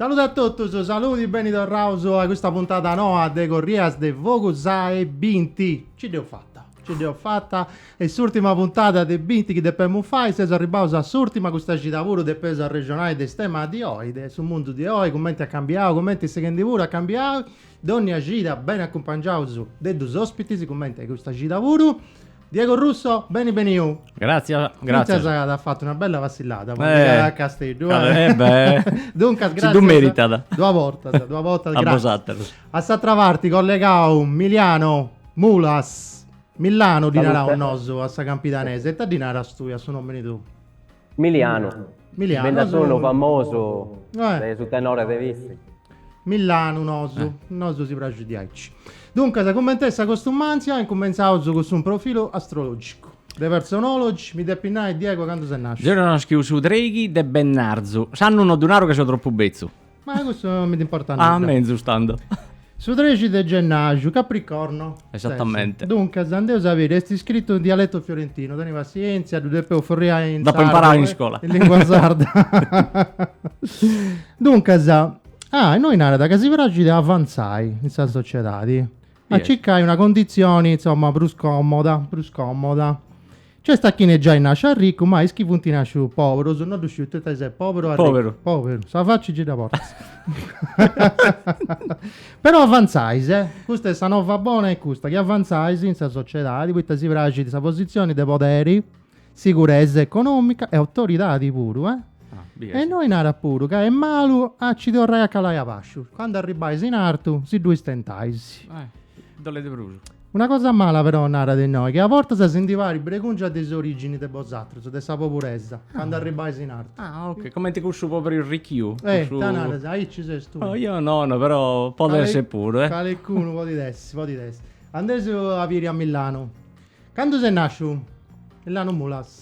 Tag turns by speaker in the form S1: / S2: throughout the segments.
S1: Salude a totus, saludi, beni torraus a custa puntada noa de Corrias de Fogu sa 'e binti. Ci dd'eus fata, ci dd'eus fata est s'ùrtima puntada de binti chi depemus fai, seus arribbaus a s'ùrtima, custa cida puru depeus arrexonai de is temas de oi, de su mundu de oi, cumenti at cambiau, cumenti est sighendi puru a cambiai, dònnia cida beni acumpangiaus de dus òspitis cumenti a custa cida puru Diego Russo, beni beniu. Grazie, grazie. Fintzas as fattu una bella passillada po eh, a Casteddu. Eh. eh beh. Duncas, grazie. Si du meritat. Duas vortas, duas vortas, grazie. A vosatrus. A s'atra parti collegau Miliano Mulas. Millano ddi naraus nosu a sa campidanese, e ita ddi naras tui a su nòmini tuu? Milianu, Milianu bi nd'at nosu- unu famosu Eh. de su tenore de Vitzi. Millanu nosu, nosu si praxit diaici. Duncas, cumenti est sa costumantzia, incumentzaus cun su profilu astrologicu. De Personology, mi depis nai, Diego, candu ses nasciu? Deu naschiu su treighi de bennarzu, s'annu no ddu naru ca seu tropu betzu. Ma cussu non mi nd'importat nudda. Ah, menzus tando. Su trexi de gennàrgiu, Capricorno. Esattamente. Duncas, andeus a biri, est iscritu in dialetu fiorentinu, teni passientzia, ddu depeus furriai in sardu. Dd'apu imparau in scola. In lingua sarda. Duncas, ah, innoi narat ca si praxit a avantzai in sa sociedadi, a circai una conditzioni, insoma, prus comoda, prus comoda. Nc'est a chine giai nascit ricu, ma is chi funt nascius poberus, no ddu sciu tui ita ses, poberu o ricu? Poberu. Sa faci ci dda portas. Però avantzais, eh! Custa est sa nova bona est custa, chi avantzais in sa sociedadi, poita si praxit sa posizioni de poderi, siguresa economica e autoridadi puru, eh! E innoi narat puru ca est malu a ci torrai a calai abaxu, candu arribais in artu si ddu istentais. Ddolet prus. Una cosa mala però narat innoi, chi a bortas si ndi parit bregùngia de s'orìgini de bosatrus, de sa poburesa, candu arribais in artu. Ah, ok. Comenti cussu poberu arrichiu, cussu... Eh, ita naras, aici ses tui. Oh, io no, no, però podit essi puru, eh. Calincunu podit essi, podit essi. Andeus a biri a Millanu. Candu ses nasciu? Millanu Mulas.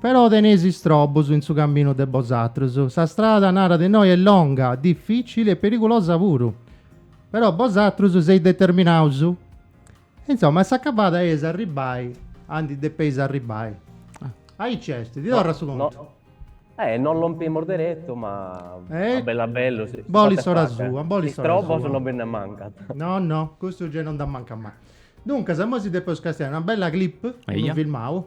S1: Però teneis istrobus in su caminu de bosatrus. Sa strada, narat innoi, est longa, difìcili e perigulosa puru. Però bosatrus seis determinaus. Insoma, a s'acabada eis a arribbai aundi depeis arribbai. Aici est, ti torrat su contu. Eh, non lompimus deretu, ma a bellu a bellu si bolit s'ora sua. Istrobos non bi nde mancant. No, no, custus gei non nd'at mancau mai. Duncas, imoi si depeus castiai una bella clip, unu filmau.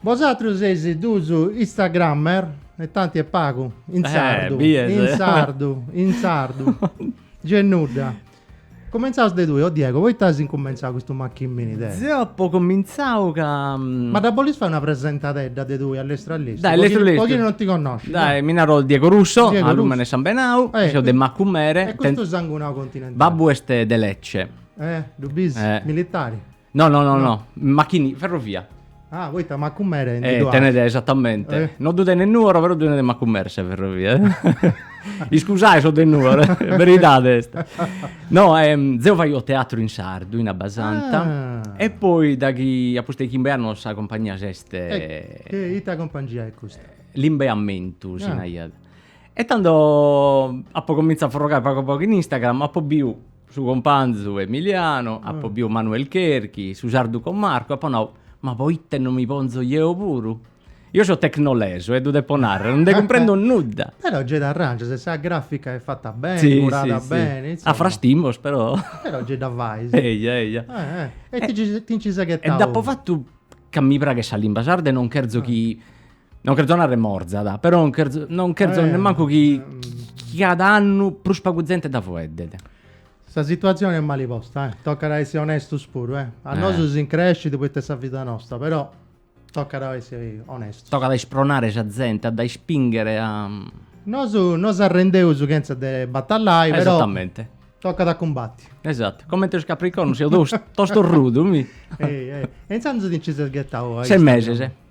S1: Bosatrus seis duus Instagrammer e tanti e pagu, in eh, sardu, bies. in sardu, in sardu, gei nudda. Cumentzaus de tui, o Diego, poita as incumentzau custu machimini de. Deu apu comintzau ca. Mm, Ma dda bolis fai una presentadedda de tui a lestru a lestru? Dai, po lestru chi- lestru. Po chi non ti connosci. Dai, mi naro Diego Russo, Diego a lùmene, Russo de sambenau, Eh, seu de qui- Macumere, E ten- custu sangunau continentali. babbu est de Lecce. Eh, ddu bis, Eh. militari. No, no, no, no. Machini, ferrovia. Ah, poita Macumere ndi Eh, ddu tenet as. esatamente. Eh. No ddu tenet Nùoro, però ddu tenet Macumere sa ferrovia. Iscusai sos de nùoro, beridade est. No, ehm, zeo faio teatru in sardu, in Abbasanta, Ah. e poi daghi a pustis de chimbe annos sa compagnia s'est E che ita compangia est custa? Limba e Ammentu si Ah. naraiat. E tando apo comintzau a forrogare pagu pagu in Instagram, apo biu Su companzu Emiliano, apo biu Manuel Cherchi, su sardu cun Marco, apo nau, ma po ite no mi ponzo jeo puru? Io so tecnoleso e ddu depo narrer, no nde cumprendo nudda. Però gei t'arrangias e sa grafica est fatta beni, curada beni, insomma. A frastimos però. Però gei dda fais. Eja, eja. E ti nci ses ghetau. E dd'apo fatu ca mi praghet sa limba sarda e non cherzo chi Non cherzo narrer morzat, però non cherzo, non cherzo eh, nemmancu chi, ehm. chi cada annu prus pagu zente dda fueddet. Sa situatzione est mali posta, eh. Tocat a essi onestus puru, eh. A eh. nosu si increscit poita est sa vida nosta, però tocat a essi onestus. Tocat a ispronare sa zente, a dda ispinghere a... Nosu no s'arrendeus chentza de batallai, però... Esattamente. Tocat a cumbatti. Esatto, comente sos capricornos, seo tostorrudu, mi... Ehi, ehi. E intzandus ti nci ses ghetau... Ses meses, eh.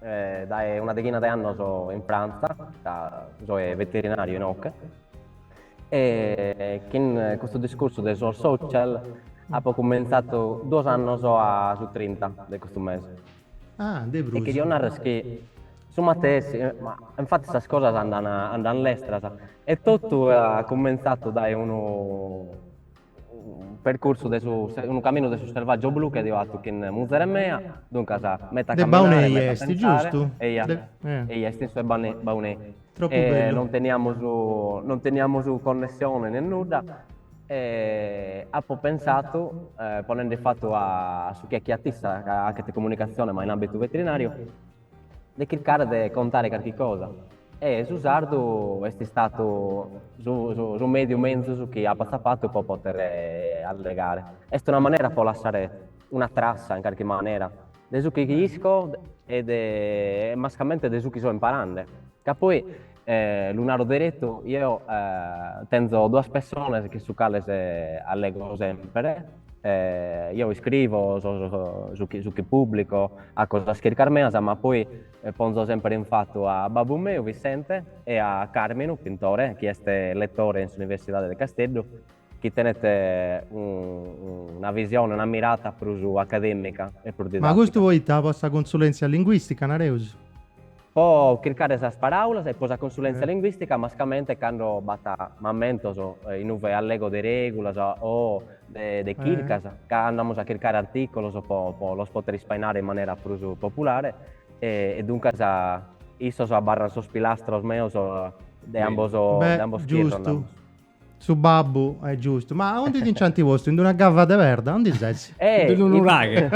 S1: eh, dae una dechina de annos in Frantza, ca soe veterinariu inoche, e chin custu discursu de sos social apo cummentzatu duos annos a su 30 de custu mese. Ah, de prus. E chi dio narrer chi su matessi, ma infattis sas cosas andan andan lestras e totu at cummentzatu dae unu percursu de su unu caminu de su Selvàgiu Blu chi aio fatu chin muzere mea, duncas meta De Baunei caminare, meta est, pensare, giustu? eia, De eh. eia est in su 'e Bane Baunei Tropu e bellu. non teniamus non teniamus connessione nen nudda e apo pensatu, ponende fatu a su chi fachiat issa ca fachet comunicazione ma in ambitu veterinariu de chircare de contare carchi cosa e su sardu est istatu su mediu menzus chi apo atzapatu po potere allegare. Est una manera po lassare una trassa in carchi manera de su chi chi isco e de e mascamente de su chi so imparande ca poi E lu naro deretu, eo tenzo duas pessones chin su cales allego semper, eo iscrivo su chi su chi publico, faco sas chircas meas, ma poi ponzo semper in fatu a babbu meu Vissente e a Càrminu Pintore, chi est lettore in s'Universidade de Casteddu chi tenet una visione, una mirata prus acadèmica e prus didàtica. Ma custu poita po sa consulèntzia linguìstica, nareus? Po chircare sas paràulas e po sa consulèntzia linguìstica, mascamente cando b'at mamentos in ue allego de règulas o de chircas, ca andamus a chircare artìculos po los pòdere ispainare in manera prus populare e duncas issos abarrant sos pilastros meus de ambos de ambos pies, nareus. Su babbu, est giustu. Ma aundi ti nci anti postu? In d'una cava de perda? Aundi ses? Eh! In d'unu nuraghe.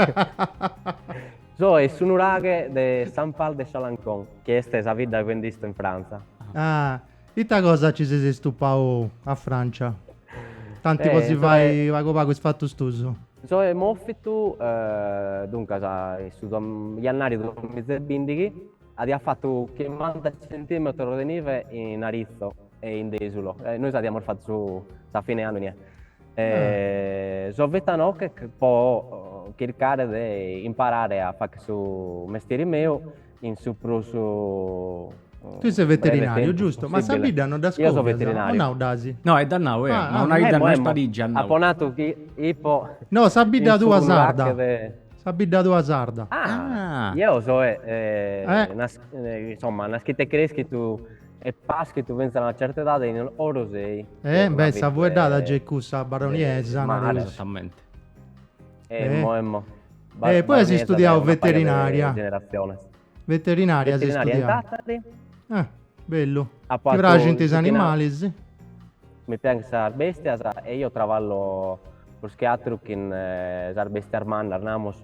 S1: Soe in su nuraghe de Saint-Pal-de-Chalencon, chi est sa bidda chi ndi isto in Frantza. Ah! Ita cosa nci ses istupau a Francia? Tanti po si fai pagu pagu is fatus tuus. Soe mòvitu, duncas, in su jannariu de duamizebindighi, adiat fatu chimanta centimetros de nive in Aritzo. e in Dèsulo. Eh, nois adiamos fatu su, sa fine annu inie. E, ah. So vènnitu inoche po chircare de imparare a fàchere su mestieri meu in su prus tui ses veterinàriu, giustu? Ma sa bidda no dd'as scoviada. Eo soe veterinàriu. No dd'asi. No dd'as nau, eh. Ah, ma una ah, idda non è spariggia. Apo natu chi ipo. No, sa bidda tua sarda. Sa bidda tua sarda. Ah, ah. eo soe eh, eh, eh. Nas, eh, insomma, nàschitu e crèschitu E paschitu fintzas a una certa edade in Orosei. E beh sa fueddada gei est cussa baroniesa nareus. Esattamente. Emmo emmo. E poi as studiau veterinaria. Veterinaria as studiau. Veterinaria in Tàtari. Eh, bellu. Ti praxint is animalis? Mi praxint sas bèstias e eo traballo prus che àteru chin sas bèstias mannas, namus.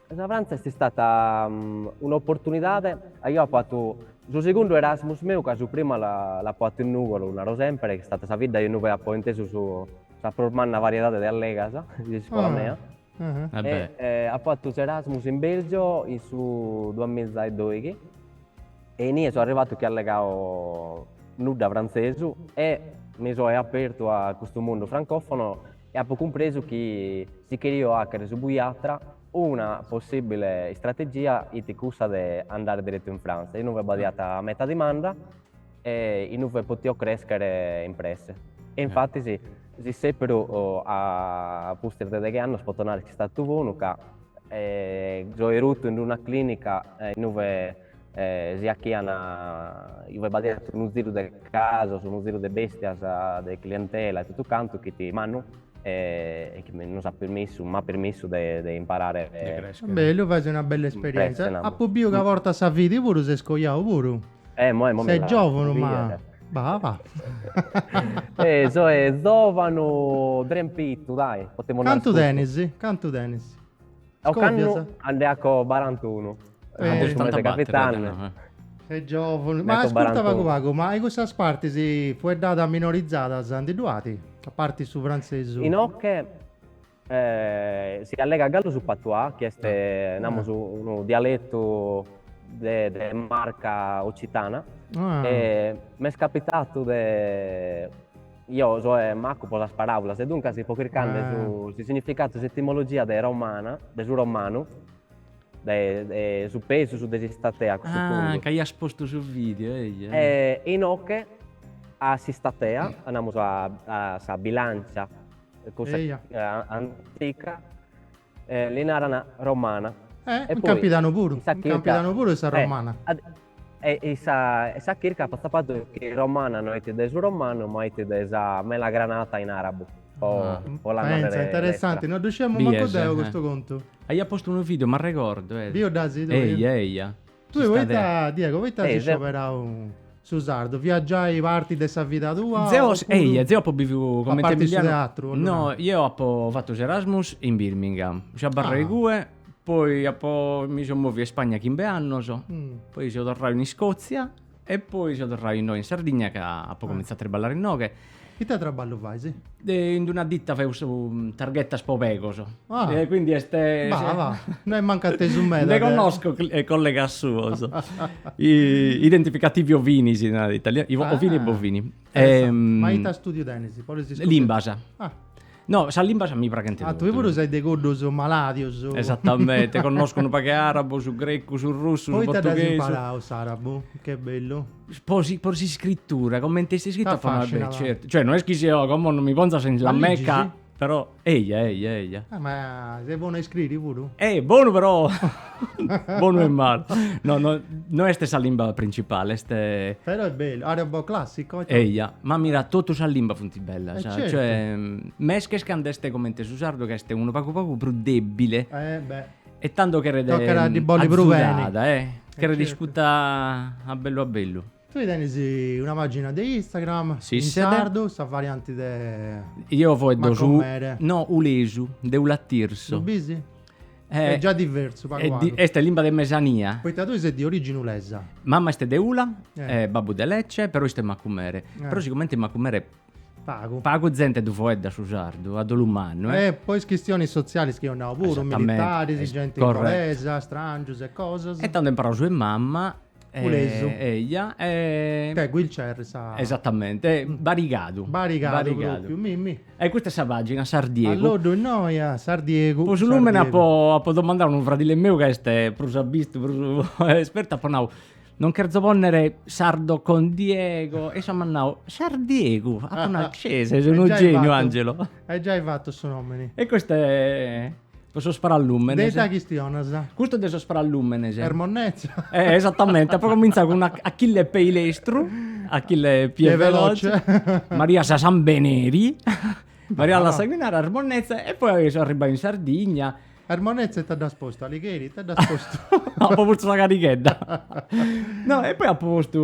S1: Sa Frantza est istata un'oportunidade, aio fatu su segundu Erasmus meu ca su primu l'apo fatu in Nùgoro, naro semper, est istata sa bidda in ue apo intesu sa prus manna variedade de allegas de s'ìsula mea e apo fatu s'Erasmus in Bèlgio in su duamiza e doighi e inie so arrivatu chi allegao nudda frantzesu e mi so apertu a custu mundu francofono e apo cumpresu chi si cherio fàghere su buiatra, una possìbile istrategia fit cussa de andare diretu in Frantza, inue b'aiat meta dimanda e inue potio crèschere in presse. E infatis, su sèperu a pustis de deghe annos poto nàrrere chi est istatu bonu ca soe rutu in una clìnica inue si achian iue b'aiat unu ziru de casos, unu ziru de bèstias, de clientela e totu cantu chi it mannu e chi mi nos at permissu, m'at permissu de imparare. Bellu, fait una bella esperienza. Apu biu ca portas sa fidi puru, ses coiau puru. Eh, moi mo mi la giovunu ma bah bah. Eh, soe zovanu drempitu, dai, potemu nai. Cantu tenis? Cantu tenis? Ocannu a nde aco barantunu. Ah, de su mese capitanni. E giovunu. Ma ascurta pagu pagu, ma in cussas partis fueddadas minorizadas ndi ddu at? A parti su frantzesu. Inoche si allegat galu su patuà, chi est, namus, unu dialetu de marca occitana. E m'est capitatu de. Io soe macu po sas paràulas e duncas ipo chircande su su significatu, sa etimologia de romana, de su romanu, de de su pesu, su de s'istatea a cussu puntu. Ah, ca aias postu su video, eja. E inoche a s'istatea, namus a sa bilancia cussa antica, E li narana Romana. E poi. In Campidanu puru. In Campidanu puru est Romana. E sa chirca fatza fatzu chi Romana no est de su Romanu ma est de sa Melagranata in arabu. Po la narrere. Penza, interessanti, no ddu sciemu mancu deu custu contu. Aia postu unu video, m'arregordu. Biu dd'as tui? Eia eia. Tue poita, Diego, poita as scioberau su sardu? Fiat giai parti de sa vida tua? Deu, eia, deu apu biviu comente A parti su teatru? No, ieu apu fatu s'Erasmus in Birmingham, seu abarrau igue, poi apu, mi seu moviu a Ispagna chimbe annus, poi seu torrau in Iscozia E poi seu torrau innoi in Sardigna ca apo comintzau a triballare inoghe. Ite traballu fais? In una ditta feus targhetas po pegos. Ah. E quindi est. Bah, bah, no est mancu a tesu meda. Nde connosco collegas suos. Identificativi ovini si narat in italianu. Ovini e bovini. Ma ita studiu tenis? Limbas. Ah. No, sas limbas mi praghent totus. Ah, tue puru ses de cuddos malàdios. Esatamente, connosco unu pagu de àrabu, su grecu, su russu, su portughesu. Poita dd'as imparau s'àrabu? Che bellu. Po si po s'iscritura, comente est iscrita. T'afascinat. Certu, cioè no est chi seu, como non mi ponzas in la Mecca. Ma ligis? Però, eia, eia, eia. Ah, ma ses bonu a iscriri puru? Eh, bonu però. Bonu e malu. No, no, no est sa limba principale, est... Però est bellu, arabo classico? Eia, ma mira, totu sas limbas funt bellas, eh, certo. cioè, mesches cando est comente su sardu ca est unu pagu pagu prus dèbile. Eh, beh. E tando cheret... Tocat a ddi bolli prus beni. Eh, cheret iscuta a bellu a bellu. Tui tenis una pagina de Instagram in sardu, sa varianti de Macumere. No, ulesu, de Ula Tirsu. Ddu bisi? Est già diversu pagu pagu. Est limba de mesania. Poita tui ses de origini ulesa. Mama est de Ula e babbu de Lecce, però isto in Macumere. Però sigumente Macumere pagu pagu zente ddu foeddat su sardu a dolu mannu. E po is chistionis sotzialis chi eus nau puru, militaris, genti inglesa, strangius e cosas. E tando imparau su 'e mama S'ulesu. Eja. Che qui nc'est sa. Esatamente. Barigadu. Barigadu propriu. Mi mi. E custa est sa pagina, Sardiegu. Alloddu innoi a Sardiegu. Po su lùmene apo apo domandau a unu fradile meu ca est prus abistu, prus espertu, apo nau, non cherzo ponnere sardo con Diego. E issu at nau, Sardiegu. Apo nau, cess, ses unu geniu Angelo. E giai fatu su nomini. E custa est. po sos parallùmenes. De ita chistionas? Custu de sos parallùmenes. Er Monnezza. Eh, esatamente, apo comintzau cun Achille pei lestru, Achille piè veloce, Maria sa Sambeneri, Maria la Sanguinaria, Er Monnezza e poi so arribbau in Sardigna. Er Monnezza ita dd'as postu, Alighieri, ita dd'as postu? Apo postu sa carighedda. No, e poi apo postu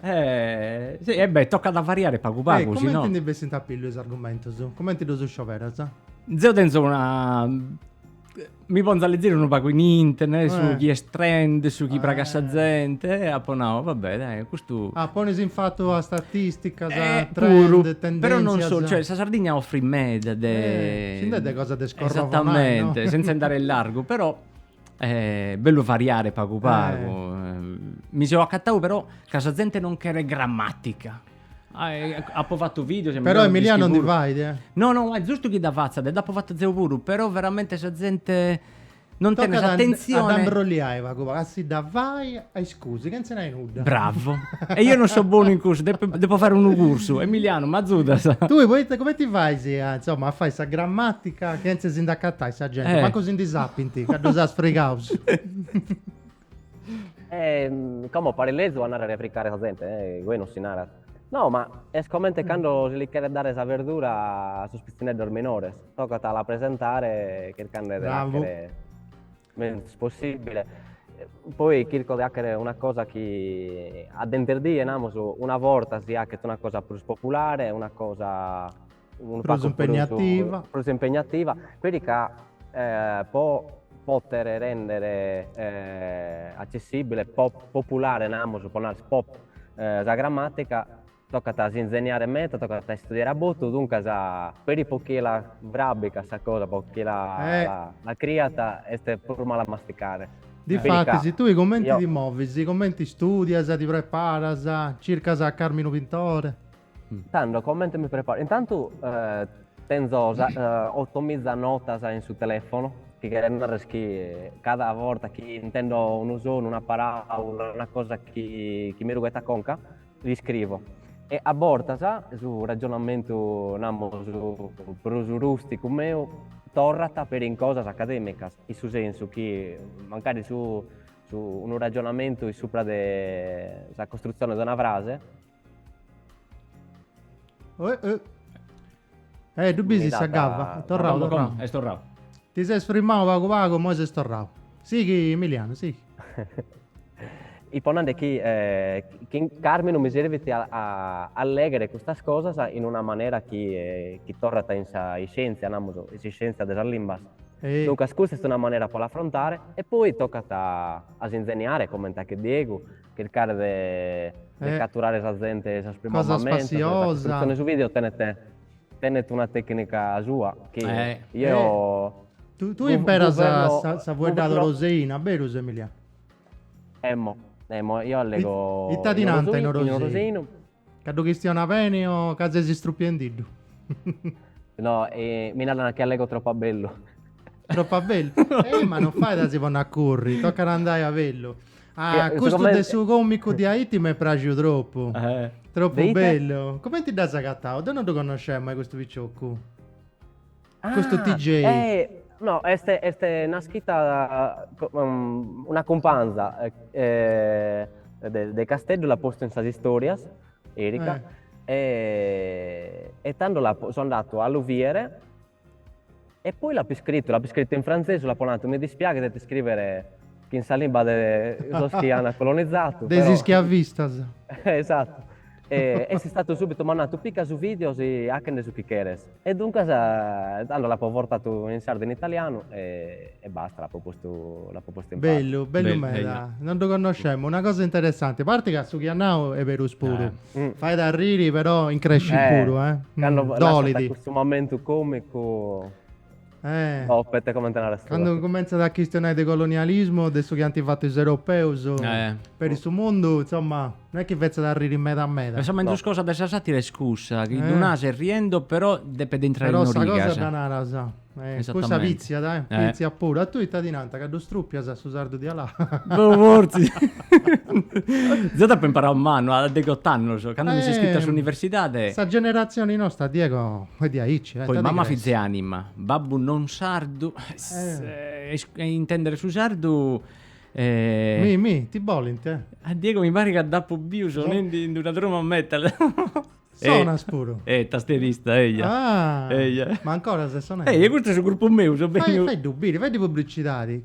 S1: Eh, sì, e eh beh, tocat a variare pagu pagu, si no... E comenti ndi bessint a pillu is argumentus? Comenti ddus scioberas? Zeu tenzu una... Mi ponzu a leziri unu pagu in internet, su eh. chi est trend, su chi eh. pragat sa zente, e apu nau, va bè, dai, custu... Ah, ponis in fatu a statisticas, eh, a trend, puru, tendenzias... Però non solu, cioè, sa Sardigna offrit meda de... Eh, si nd'est de cosa de scorrovonai, Esattamente, no? senza andare in largu, però... Eh, bellu variare pagu pagu. Eh. Mi seo acatau però ca sa zente non cheret grammatica. Ah, eh, apo fattu videos e mi Però deu Emiliano non ndi dischivuru. fait, eh. No, no, est giustu chi dda fatzat e dd'apo fatta deu puru, però veramente sa zente non tenet Tocat a- a s'atentzione. dda imbrolliai pagu pagu, a si dda fai a is Scusi, chentze nai nudda. Bravo. E io non so bonu in cussu, depo, depo fare unu cursu. Emiliano, m'azudas? Tui, poita, comenti fais a, insomma, a fai sa grammatica chentze si nd'acatai sa genti, Eh. mancu si ndi sapinti, ca ddus as frigaus. Ehm, como parit lezu a narrere fricare sa zente, eh, igue non si narat. No, ma est comente cando si li cheret dare sa verdura a sos pitzineddos minores, tocat a la presentare chircande de Bravo. l'àchere Menzus possibile, poi chirco de achere una cosa chi a dinterdie, namus, una borta si achet una cosa prus populare, una cosa unu pagu prus impegnativa, prus impegnativa, peri ca po potere rendere accessibile, po populare namus, po narer pop sa grammatica tocat a si inzeniare meda, tocat a istudiare a botu, duncas peri po chie la frabicat sa cosa, po chie la eh. la, la criat est prus mala a masticare. Difatis, tui cumenti ti movis? Cumenti istudias, ti preparas, circas a Carminu Pintore? Tando, cumenti mi preparo? Intantu eh, tenzo sa, eh, otomiza notas in su telefono, chi cheret narrer chi cada borta chi intendo unu sonu, una paraula, una cosa chi, chi mi rughet a conca, L'iscrivo. E a bortas su ragionamentu, namus, prus rùsticu meu torrat peri in cosas acadèmicas, in su sensu chi mancari unu ragionamentu in supra de sa costrutzione de una frase, Eh, ddu bis sa gabba? Est torrau, torrau. Est torrau. Ti ses frimau pagu pagu, moi ses torrau. Sighi, Emilianu, sighi. Ipo nande chi in Carminu mi servit a lèghere custas cosas in una manera chi torrat in sa iscièntzia, namus, in s'iscièntzia de sas limbas. Duncas custa est una manera po l'afrontare e poi tocat a s'inzeniare, comente achet Diegu, chircare de de Eh. caturare sa zente 'e sos primos Cosas mementos, e sa passiosa. costruzione 'e su video tenet tenet una tecnica sua chi Eh. io Eh. Tu tui imperas sa sa sa fueddada oroseina, berus Emiliano? Emmo emmo io allego Ita ti nant in Orosei? Ca ddu chistionas beni o ca ses istrupiendiddu? No, mi naran chi allego tropu a bellu. Tropu a bellu? Eh, ma non fait a si ponni a curri, tocat andai a bellu. Ah, custu de su comicu di Haiti m'est praxiu tropu. Eh. Tropu bellu. Comenti dd'as agatau? Deu non ddu connosceu mai custu piciocu. Custu Ah, TJ. eh, no, est, est istada una cumpanza eh, de, de Casteddu, l'at postu in sas istorias, Erica, Eh. e, e tando l'apo, so andatu a lu viere e poi l'apo iscrittu, l'apo iscrittu in frantzesu, l'apo natu mi dispiaghet a ti scrivere Chin sa limba de sos chi an colonizadu. De is schiavistas. Esatu. Issu at subitu, m'at natu, pica su video e ache·nde su chi cheres. E duncas, tando l'apo vortatu in sardu e in italianu e basta, l'apo postu, l'apo postu in pare. Bellu, bellu meda. Non ddu connoscemo, una cosa interessanti. A parte ca su chi at nau est berus puru. Fait a arriri però increscit puru, eh. Cando lassat cussu momentu comicu. Eh. Boppet, comente narest tue. Cando cumentzat a chistionai de colonialismu, de su chi ant fatu is europeus Eh. peri su mundu, insomma, no est chi fetzat arriri meda meda. Pensà menzus No. cosa de sa sàtira est cussa, chi ddu Eh. naras riendo però depet intrai Però sa cosa in origas. dda naras, eh, cussa Esattamente. pitziat, eh, Eh. pitziat puru. A tui ita ti nant, ca ddu strupias a su sardu dialà? Boh, fortzis. Deu dd'apo imparau mannu, a degh'ot'annus, candu mi seu iscritu a Eh, s'universidade. sa generatzioni nosta, Diego, Poi mamma fiz'e anima, babbu non sardu, e intendere su sardu e. Ti bolint? A Diego mi parit ca dd'apu biu sonendi in una truma metal. Sonas puru? Eh, tastierista, eja. Ah! Eja. Ma ancora ses sonende? Eja, custu est su grupu meu, seu beniu. Fai ddu biri, fai ddu publicidadi.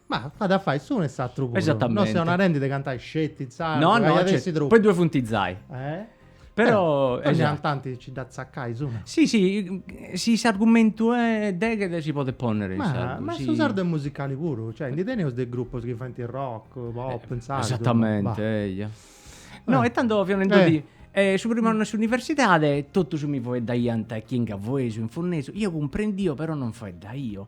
S1: Ma at a fai s'unu e s'atru puru. Esatamente. No seus narendi de cantai sceti in sardu, No, no, aiat essi tropu. po is dues funt izai. Eh? Però, Torriant antis a ci dda tzacai s'una. Si, si, si s'argumentu deghet si podet ponnere in sardu. Ma su sardu est musicali puru, cioè ndi teneus de grupos chi faint rock, pop in sardu. Esatamente, eia. No, e tando fiaus nendodì, su primu annu 'e s'universidadi totus mi faeddaiant chi in gavoesu, in funnesu, io cumprendio però non faeddaio.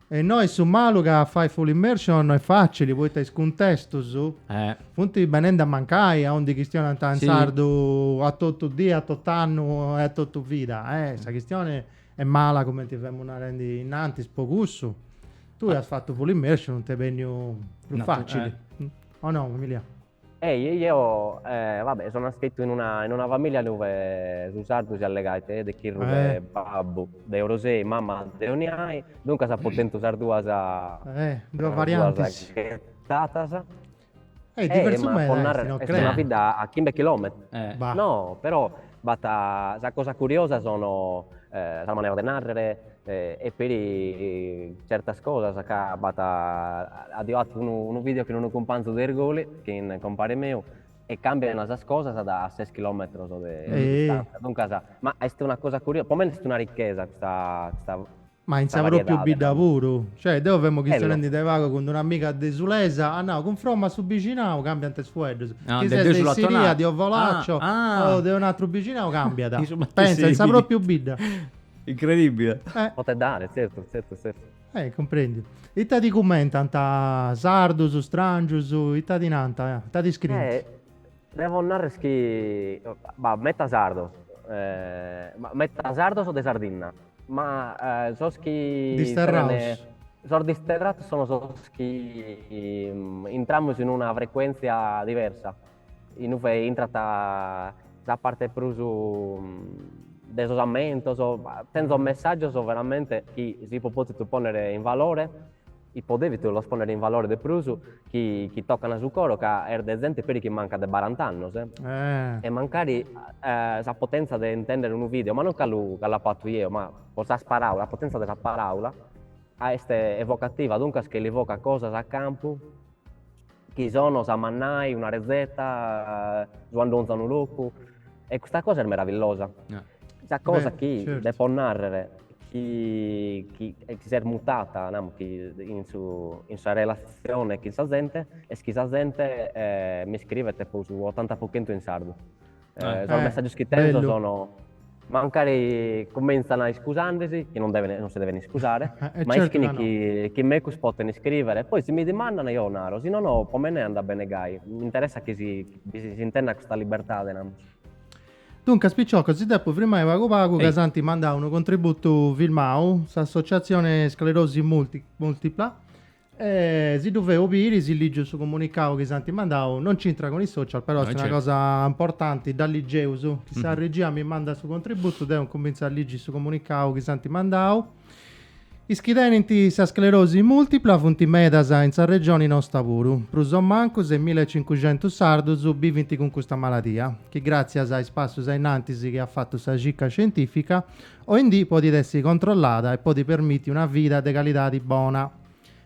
S1: E innoi est su malu ca a fai full immersion no est facili poita is cuntestus funt benendi a mancai a undi chistionant in sardu a totu dì, a totu annu e a totu vida. Sa chistioni est mala cumenti femus narendi innantis po cussu. Tui as fatu full immersion, t'est benniu prus facili, o no Emilia? Ehi, ehi, eo, eh, vabbè, so naschitu in una, in una familia duve su sardu si allegait de chirru de Eh. babbu, de Orosei, mamma de Oniai, duncas apo tentu sas duas, Eh, duas sas variantes. duas ghetatas. Eh, Eh, diversu ma meda po est, narrer, no est una creas? bidda a chimbe chilometros. Eh. Bah. No, però, B'at sa cosa curiosa sono sas maneras de narrere e peri certas cosas ca b'at addeu attu unu video chin unu cumpanzu de Irgoli chin compare meu e cambian sas cosas da ses chilometros de distanza duncas ma est una cosa curiosa po mene est una ricchesa custa Ma in sa pròpiu bidda puru? Cioè, deu femo chistionendi de pagu cun d'una amiga desulesa, at nau, cunfromma a su bixinau càmbiant is fueddus, chi ses de Issiria, de Ovolaccio o de unu atru bixinau càmbiat. Pensa, in sa pròpiu bidda. Incredibbile. Potet dare, zertu, zertu, zertu. Eh, cumprendiu. Ita ti cummentant, sardus, stràngius, ita ti nant, ita ti scrint? Devo narrer chi b'at metas sardos, ma metas sardos de Sardinna, ma sos chi disterrados. Sos disterrados sono sos chi intramus in una frecuentzia diversa, inue intrat sa parte prus de sos ammentos, tenzo messaggios veramente chi si apo pòtitu ponner in valore Ipo devia los ponner in valore de prus chi chi toccan su coro ca est de zente peri chi mancat de barant'annos e mancari sa potenza de intender unu video, ma non ca lu ca lu apo fatu jeo, ma po sas paraulas, sa potenza de sa paraula est evocativa, duncas chi li vocat cosas a campu. chi sono sa mannai, una retzeta, su andonzu a unu locu e custa cosa est meravillosa. Sa cosa chi depo narrer chi chi s'est mutata namus gai in su in sa relazione chin sa zente est chi sa zente mi scrivet po su ottanta po chentu in sardu Eh, sos eh, messaggios chi tenzo bello. sono mancari cuminzan iscusandesi che non, deve, non si deven iscusare eh, eh, ma certo, ischin no, chi, no. chi mecus poten iscriere e poi si mi dimandan jeo naro si no no po mene anda bene gai mi interessat chi si, chi si, si intendan custa libertade no? Duncas picciocas, si depo firmai pagu pagu ca s'ant mandau unu contributu filmau, s'associatzione sclerosi multipla E si ddu feus biri, si ligiu su comunicau chi s'ant mandau, non c'intrat cun is social, però No, est una certu. cosa importanti, dda ligeus, si sa regia mi mandat su contributu, deu incuminzu a ligi su comunicau chi s'ant mandau. Is chi tenint sa sclerosi multipla funt medas in sa regioni nosta puru, prus o mancu semilaecincuxentus sardus bivint cun custa maladia, chi gràtzias a is passus ainnantis chi at fatu sa circa scientìfica, Oindì podit essi controllada e podit permiti una vida de calidadi bona,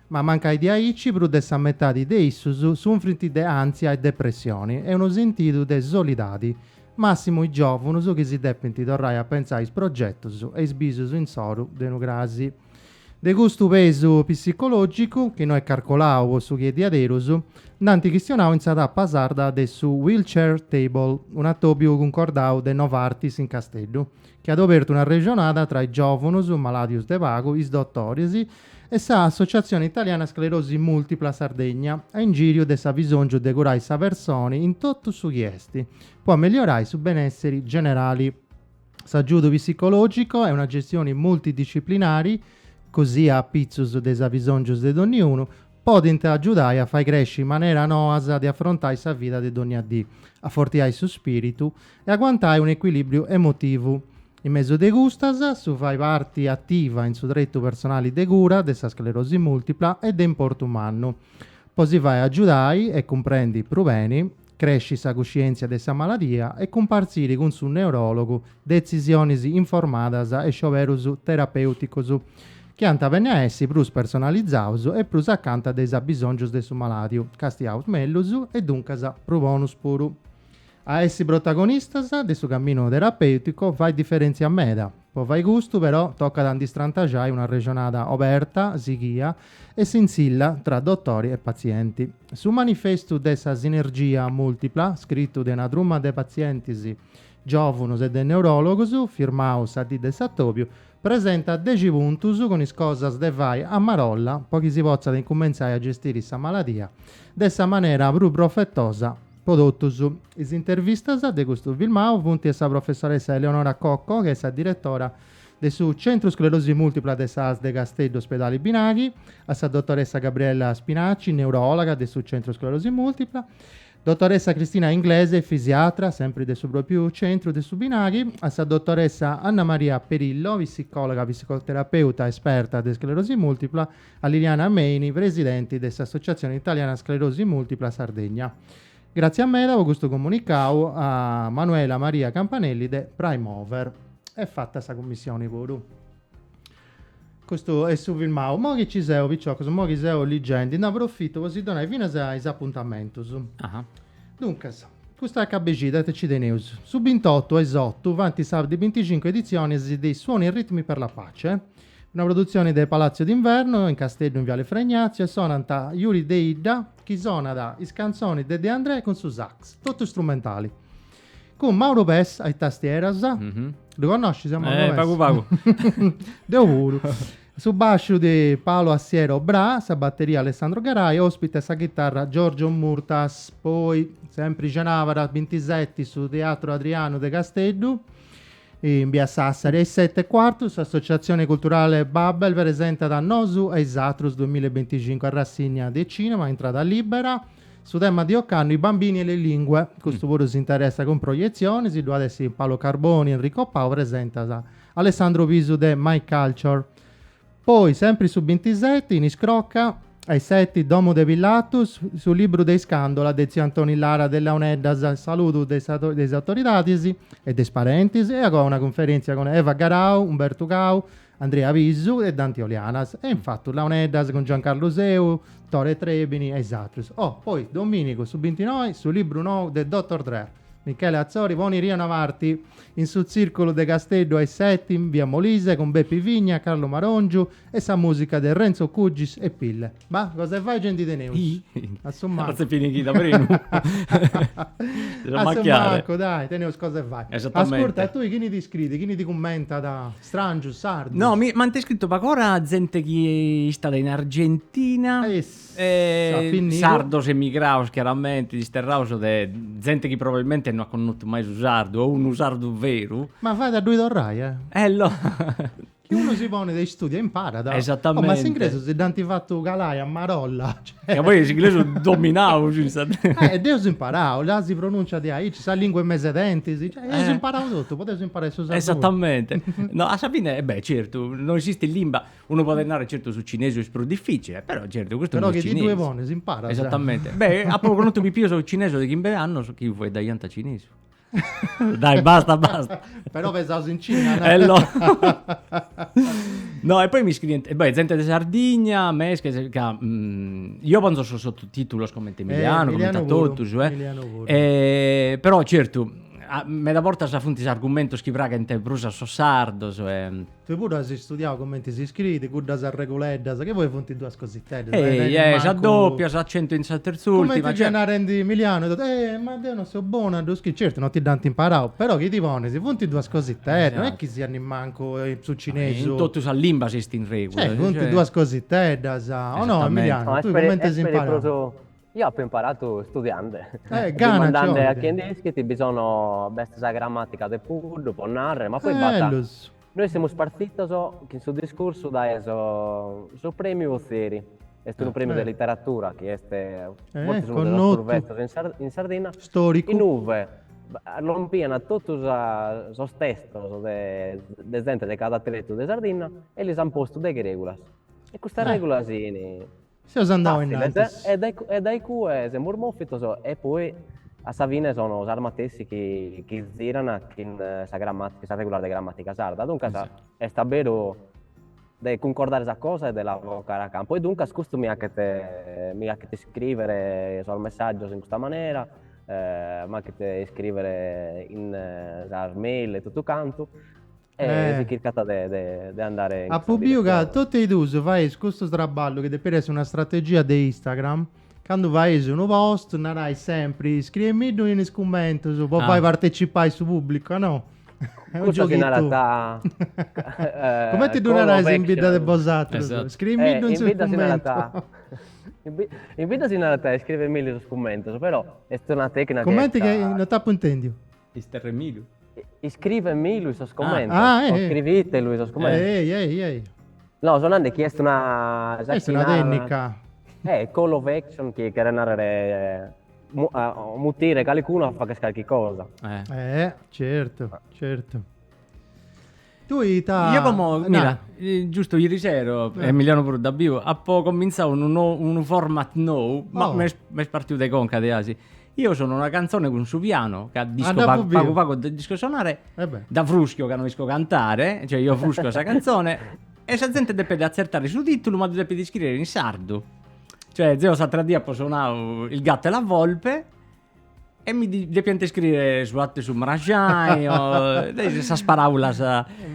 S1: ma mancai diaici prus de sa metadi de issus sunfrint de àntzia e depressioni e unu sentidu de soledadi, màssimu is giòvunus chi si depint torrai a pentzai is progetus e is bisus insoru de unu crasi. De custu pesu psicològicu, chi no est carcolau po su chi est diaderus, nd'ant chistionau in sa tapa sarda de su Wheelchair Table, un'atòbiu cuncordau de Novartis in Casteddu, chi at obertu una arrexonada tra is giòvunus malàdius de pagu, is dotoris e sa Associazione Italiana Sclerosi Multipla Sardegna, a ingìriu de s'abisòngiu de curai sa personi in totu su chi est, po ameliorai su benèssiri generali. S'agiudu psicològicu e una gestioni multidisciplinari, cosia apitzus de is abisòngius de donniunu, podint agiudai a fai cresci maneras noas de afrontai sa vida de dònnia dì, afortiai su spìritu, e aguantai un'ecuilibriu emotivu. In mesu de custas, su fai parti ativa in su tretu personali de cura de sa sclerosi multipla est de importu mannu po si fai agiudai e cumprendi prus beni, cresci sa cuscièntzia de sa maladia e cumpartziri cun su neuròlogu detzisionis informadas e scioberus terapèuticus chi ant a benni a essi prus personalizaus e prus acanta de is abisòngius de su malàdiu, castiaus mellus e duncas prus bonus puru. A essi protagonistas de su caminu terapèuticu fait diferèntzia meda. Po fai custu, però, tocat a ndi strantaxai una arrexonada oberta, sighia e sintzilla tra dotori e patzienti. Su manifestu de sa sinergia mùltipla, scritu de una truma de patzientis giòvunus e de neuròlogus, firmau sa dì de s'atòbiu, presentat dexi puntus cun is cosas de fai a marolla po chi si potzat incumentzai a gestiri sa maladia de sa manera prus profetosa Pro totus is intervistas de custu filmau funt a sa professoressa Eleonora Cocco, chi est sa diretora de su Centru Sclerosi Multipla de s'ASL de Casteddu Ospedali Binaghi, a sa dotoressa Gabriella Spinicci, neuròloga de su Centru Sclerosi Multipla, dotoressa Cristina Inglese, fisiatra, sempri de su pròpiu centru de su Binaghi, a sa dotoressa Annamaria Perillo, psicòloga psicoterapeuta esperta de sclerosi multipla, A Liliana Meini, presidenti de s'Associazione Italiana Sclerosi Multipla Sardegna. Gràtzias meda po custu comunicau a Manuela Maria Campanelli de Primover. Est fata sa cummissioni puru. Custu est su filmau. Moi chi ci seu, piciocus, moi chi seu ligendi, nde aprofitu po si donai finas is apuntamentus. Aha. Duncas, custu acabu 'e xida ite ci teneus? Su bintotu a is otu faint sa de binticincu editzionis de is Suoni e ritmi per la pace, Una produtzione de Palazzo d'Inverno in Casteddu in viale Fra Ignazio e sonant Juri Deidda chi sonat is cantzonis de De Andrè cun su sax, totu strumentali. Cun Mauro Pes a is tastieras, ddu connoscis a Mauro Pes? Pagu pagu. Deu puru. Su basciu de Paolo Assiero Brà, sa batteria Alessandro Garau, ospite a sa chitarra Giorgio Murtas. Poi, sempri cenàbara bintiseti, su Teatro Adrianu de Casteddu. In Bia Sassari, a is sete e cuartu, s'Associatzione Culturale Babel presentat Nosu e is atrus duamilla e binticincu, arrassinnia de cinema, intrada libera. Su tema de ocannu, i bambini e le lingue, custu puru si interessat cun proietzionis, ddui at a essi Paolo Carboni, Enrico Pau, presentat Alessandro Pisu de My Culture. Poi, sempri su bintiseti, in Iscrocca, a is seti, domu de Pilatus, su libru de Iscàndula de tziu Antoni Lara de Launeddas, a saludu de is de is autoridadis e de is parentis, e agoa una cunferèntzia cun Eva Garau, Umbertu Cau, Andrea Pisu e Danti Olianas, e in fatu Launeddas cun Giancarlu Seu, Tore Trebini e is atrus. Oh, poi, domìnigu, su bintinoi, su libru nou de Doctor Drer, Michele Atzori, po unu irì e una parti, in su Tzìrculu de Casteddu a is seti, in Via Molise, cun Bepi Vigna, Carlu Maròngiu e sa mùsica de Renzo Cugis e Pille. Bah, cosa 'e fai ge ndi teneus? A su mancu. Atzet pinighida prenu. A su mancu, dai, teneus cosa 'e fai. Esattamente. Ascurta, e tui chini ti scriit, chini ti cummentat? Stràngius, sardus? No, mi m'ant iscritu pag'ora zente chi istat in Argentina. E is Sardos emigrados chiaramente, disterrados de zente chi probabilmente no at connotu mai su sardu o unu sardu veru. Ma fait a ddoi torrai, eh? Eh no! Chi unu si ponet a istudiai imparat. Esatamente. Oh, ma s'inglesu si dd'ant fatu calai a marolla. Ca poi est s'inglesu dominau cin sa. Eh, dd'eus imparau, là si pronuncia diaici, sa lingua in mesu 'e dentis, cioè, eus imparau totu, podeus imparai su sardu puru. Esatamente. No, a sa fine, e beh, certu, no esistit limba, Unu podet narrer, certu su cinesu est prus difficile, però certu custu Però chi ti ddue pones imparas. Esattamente. Beh, apo connotu pipius cinesus de chimbe annos chi fueddaiant cinesu. Dai, basta, basta. Però pesaus in Cina, no? Ello. No, e poi mi scrient, e beh, zente de Sardigna, mesches, ca eo ponzo sos sottotitulos comente Emiliano, Eh, comente a Emiliano puru, totus, eh. Emiliano puru. E però certu, a- meda bortas funt is argumentus chi praghent prus a sos sardos e Tui puru as istudiau comenti si scriit cuddas arreguleddas, chi poi funt duas cositeddas, non est mancu. Ehi, sa dopia, s'acentu in sa terz'ùrtima. Cumenti fiat narendi Emilianu e totus, ehi, ma deu non seu bonu a ddu scriri. Certu, non ti dd'ant imparau, però chi ti ponis, funt duas cositeddas, non est chi siat nemmancu su cinesu. In totus sas limbas esistint regulas. Funt duas cositeddas, o no Emilianu? Tui cumenti as imparau? Io apo imparatu studiande, dimandande a chie nd'ischit, bi sono, b'est sa gramatica de Puddu po narrer, ma poi b'at, nois semus partitos chin su discursu dae su premiu Otieri, est unu premiu de literatura chi est fortzis unu de sos prus betzos in Sardinna, in ue lompian totu sos testos de zente de cada tretu de Sardinna e lis an postu deghe regulas e custas regulas fin Seus andau innantis. Fàtziles, e dae cue semus mòfitos e poi a sa fine sono sas matessi chi zirana chin sa grammatica, sas regulas de grammatica sarda. Duncas est a beru de cuncordare sa cosa e de la vocare a campo e duncas custu mi hachet mi hachet iscrivere sos messaggios in custa manera, m'hachet iscrivere in sas mail e totu cantu Apu biu ca totu e duus faeis custu traballu chi depit essi una strategia de Instagram, candu faeis unu post narais sempri scriemiddu in is cummentus po fai partecipai su pubblicu a no. Cussa si narat Cumenti ddu narais in bidda de bosatrus? Scriemiddu in su cummentu. In bidda si narat scriemiddu in su cummentu però est una tennica. Cumenti, non t'apu intendiu. Isterremilu. Iscrivemilu in sos commentos. Ah, ah, eh. Iscrivitelu in sos commentos. Ehi, ehi, ehi. No, so nande chi est una... Est una tennica. Eh, call to action, chi cheret narrere... Eh, mu, a, eh, mutire calicunu a fagher calchi cosa. Eh. eh, certo, certo. Tui ita... Io como, mira, giustu irisero, Emiliano puru dd'at biu, apo comintzau unu nou, unu format nou, ma m'est m'est partiu de conca de asi. Io sono una canzone cun su piano, ca nd'isco pagu pagu pagu nd'isco sonare, dda fruschio ca no isco cantare, cioè io fruschio sa canzone e sa zente depet atzertare su titulu ma ddu depet iscriere in sardu. Cioè zeo s'atra dì apo sonau Il gatto e la volpe E mi di- depiant iscriere su gatu e su margiani o de is- sas paràulas.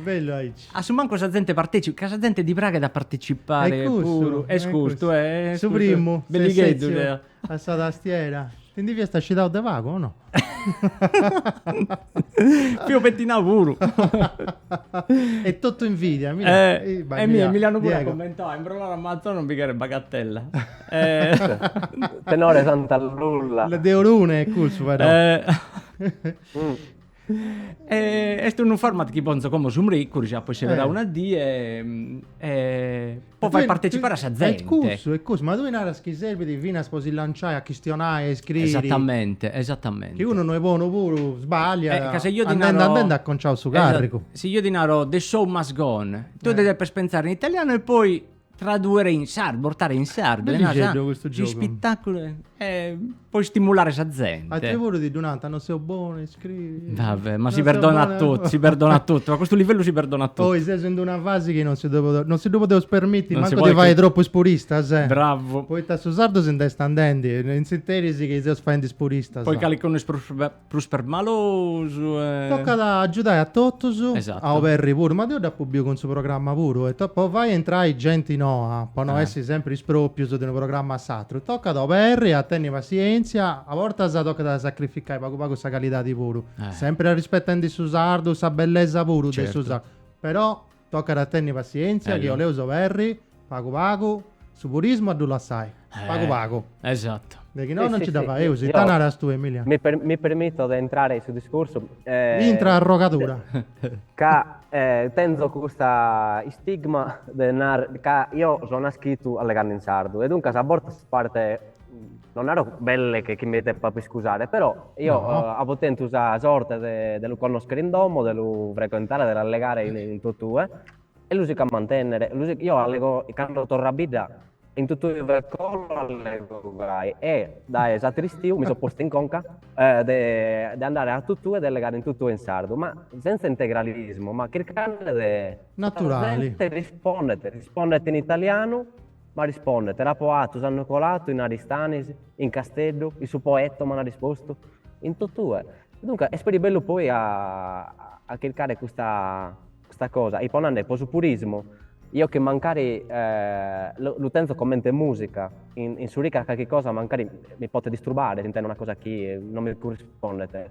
S1: Bellu, aici. A su mancu sa zente partecipat, ca sa zente ddi praghet a participare Est custu, puru. Est est custu, custu. eh, est Su custu. primu, Belligheddu, s'esercitio deo. a sa tastiera. Ti ndi fiast scitau de pagu o no? Fio pettinau puru. Est totu invidia, mi Eh, e mi mi l'an puru Diego. commentau, imbrolare a manzoni non bi cheret bagatella. Tenore Santa Lulla. La de Orune è cussu però. est unu format chi ponzo como su mricuru, si apo sceberau una die e po fai partecipare a sa zente. Est cussu, est cussu, ma tui naras chi serbit finas po si lanciai a chistionai, a iscriri. Esattamente, esattamente. Chi unu no est bonu puru sbagliat, andende andende acontzat su carrigu. Si io ti naro the show must go on, tui depes pentzare in italianu e poi Tradùere in sardu, portare in sardu. Bellixeddu custu giogu. S'ispitàculu eh, po istimulare sa zente. Atru puru ti ddu nant, non seu bonu a iscriri. Va bè, ma si perdonat totu, si perdonat totu, a custu livellu si perdonat totu. Oi, seus in d'una fasi chi non si ddu podeus, non si ddu podeus permiti mancu de fai tropu is puristas, eh. Bravu. Poita su sardu si nd'est andendi, in s'interis chi seus faendi is puristas. Poi calicunu is prus prus permalosu e. Tocat a agiudai a totus, a oberri puru, ma deu dd'apu biu cun su programma puru, poita po fai entrai genti noa, po no essi sempri is proprius de unu programma a s'atru, tocat a oberri, a tenni passientzia, a bortas tocat a sacrificai pagu pagu sa calidadi puru, sempri arrispetendi su sardu, sa bellesa puru de su sardu, però Tocat a tenni passientzia chi 'oleus oberri pagu pagu su purismu a ddu lassai. Pagu pagu. Esatto. De chi no non ci dda faeus. Ita naras tue Emilia? Mi permitto de intrare in su discursu. Intra arrogadura. Ca tenzo custa istigma de nare ca io so naschitu allegando in sardu e duncas a bortas part non naro belle che chi mi deppa iscusare, però io no. uh, apo tentu sa sorte de, de lu connoschere in domo, de lu frequentare, de l'allegare in, in totue, e lu sico a mantennere, lu sico, io allego, cando torro a bidda, in totue ve colo allego gai, e dae s'atteru istiu mi so posto in conca eh, de, de andare a totue, de allegare in totue in sardu, ma senza integralismo, ma chircande de... Naturale. Rispondet, rispondet in italianu, M'arrispondet, L'apo atu s'annu colatu in Aristanis, in Casteddu, in su Poetto m'ant arrispostu, in totue. Duncas est peri bellu poi a a chircare custa custa cosa, e ponande, po su purismu, io chi mancari lu tenzo comente musica, in in s'oricra calchi cosa mancari mi potet distrubare si intendo una cosa chi non mi currispondet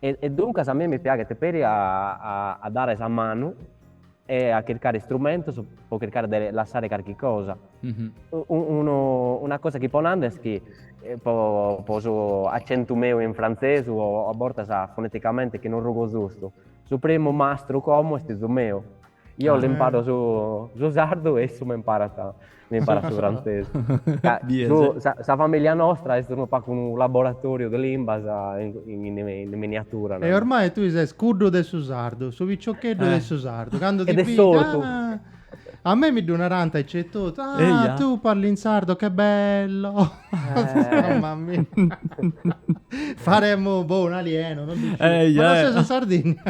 S1: E duncas a mie mi piaghet peri a a dare sa manu e a chircare istrumentos po chircare de lassare carchi cosa. Unu una cosa chi ponande est chi po po su accentu meu in frantzesu o a bortas foneticamente chi non rugo zustu, su primu mastru como est 'izu meu Io le imparo su, su sardu e issu mi imparat, sa, mi imparat su frantzesu. Ca, su, sa, sa, famiglia nostra est unu pacu unu laboratorio de limbas in, in, in, in miniatura. E ormai tui ses cuddu de su sardu, su piccioccheddu eh. de su sardu. Cando ti e de sortu. Ah, a me mi ddu narant aici e totu. Ah, Eia. tu parli in sardo, che bello. Mamma mia. Faremo boh, un alieno, non dici. Ehi, Ma non eh. sei su Sardigna.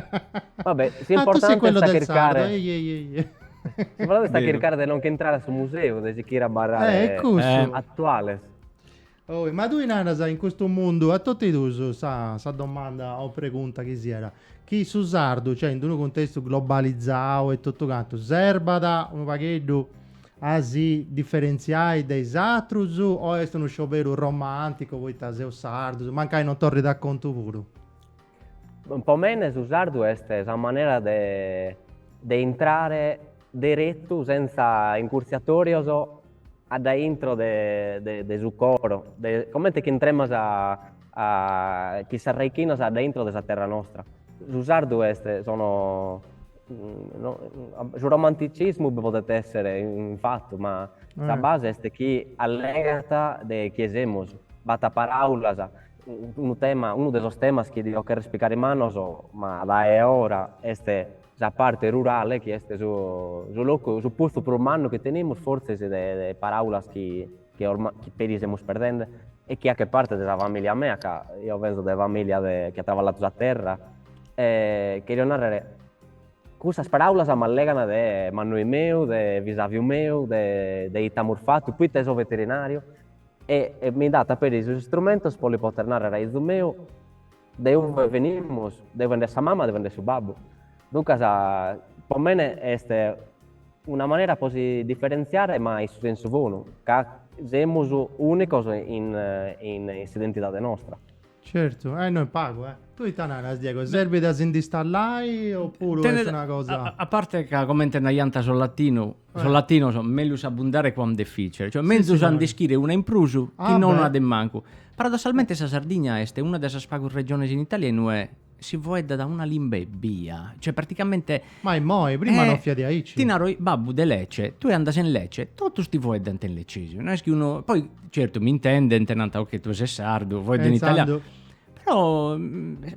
S1: Vabbè, si Ah, tu sei importante quello sta del sardo. chircare. Ehi, ehi, ehi, ehi. Si volete sta Vero. chircare de non che entrare a su museu, de sichire a abarrare Eh, è cussu. Eh. attuales. Oh, ma tui naras in custu mundu, a totu is duus sa, sa domanda o pregunta chi siat, chi su sardu, cioè in d'unu cuntestu globalizau e totu cantu, serbat unu pagheddu a si diferentziai de is atrus o est unu scioberu romànticu poita seus sardus, mancai non torrit a contu puru? Po mene su sardu est sa manera de de intrare deretu sentza incurtziatorios addaintro de de su coro, de comente chi intremas a achire s'arraichinas addaintro de sa terra nostra. Su sardu est sono su romanticismu bi podet esser infatti ma sa base est chi allegat de chie semus, b'at paraulas, unu tema, unu de sos temas chi dia cherrer ispricare mannos ma dae a ora est sa parte rurale chi est su locu, su puntu prus mannu chi tenemus fortzis de paraulas chi chi ormai chi peri semus perdende e chi a che parte de sa familia mea ca eo penso de familia de chi at travalladu sa terra e cherio narrer cussas paraulas m'allegant de mannoi meu de bisaviu meu de de ite amus fatu poita 'e so veterinariu e mi danta peri sos istrumentos po li poter narrer a izu meu De ue benimus, de ue nch'est sa mama, de ue nch'est su babbu. Duncas, po mene est una manera po si diferentziare ma in su sensu bonu, ca semus ùnicos in in s'identidade nostra. Certu, eh no est pagu, eh. Tue ita naras, Diego, serbit a si ndi stallai opuru est una cosa. Tenit, a parte ca comente naiant sos latinus, Sos latinos melius abundare quam deficere, cioè menzus a nd'ischire una in prus chi non una de mancu. Paradossalmente sa Sardigna est una de sas pagus regiones in Italia in ue si foeddat una limba ebbia, cioè praticamente. Ma immoi, prima non fiat diaici. Ti naro, babbu de Lecce, tue andas in Lecce, totus ti foeddant in leccesu, no est chi unu, poi certu mi intendent, nant ok tue ses sardu, foedda in italianu, però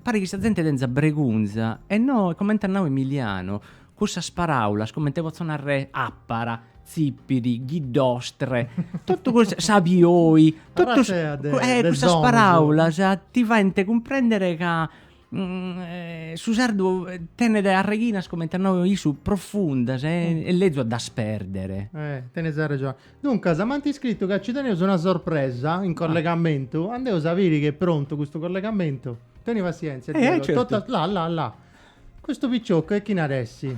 S1: paret chi sa zente tenza bregunza e no, comente at nau Emiliano, Cussas paràulas, comente potzo narrer, àpara, tzìpiri, ghiddostre, totu cussas, sabioi, totu cussas paràulas ti faint cumprèndere ca su sardu tenet arreghinas, comente at nau issu, profundas e est lezu a ddas pèrdere. Tenes arregioni. Duncas, m'ant iscritu ca nci teneus una sorpresa in collegamentu. Andeus a biri chi est prontu custu collegamentu. Teni passièntzia Diego. Là, là, là. Custu piccioccu e chini at essi?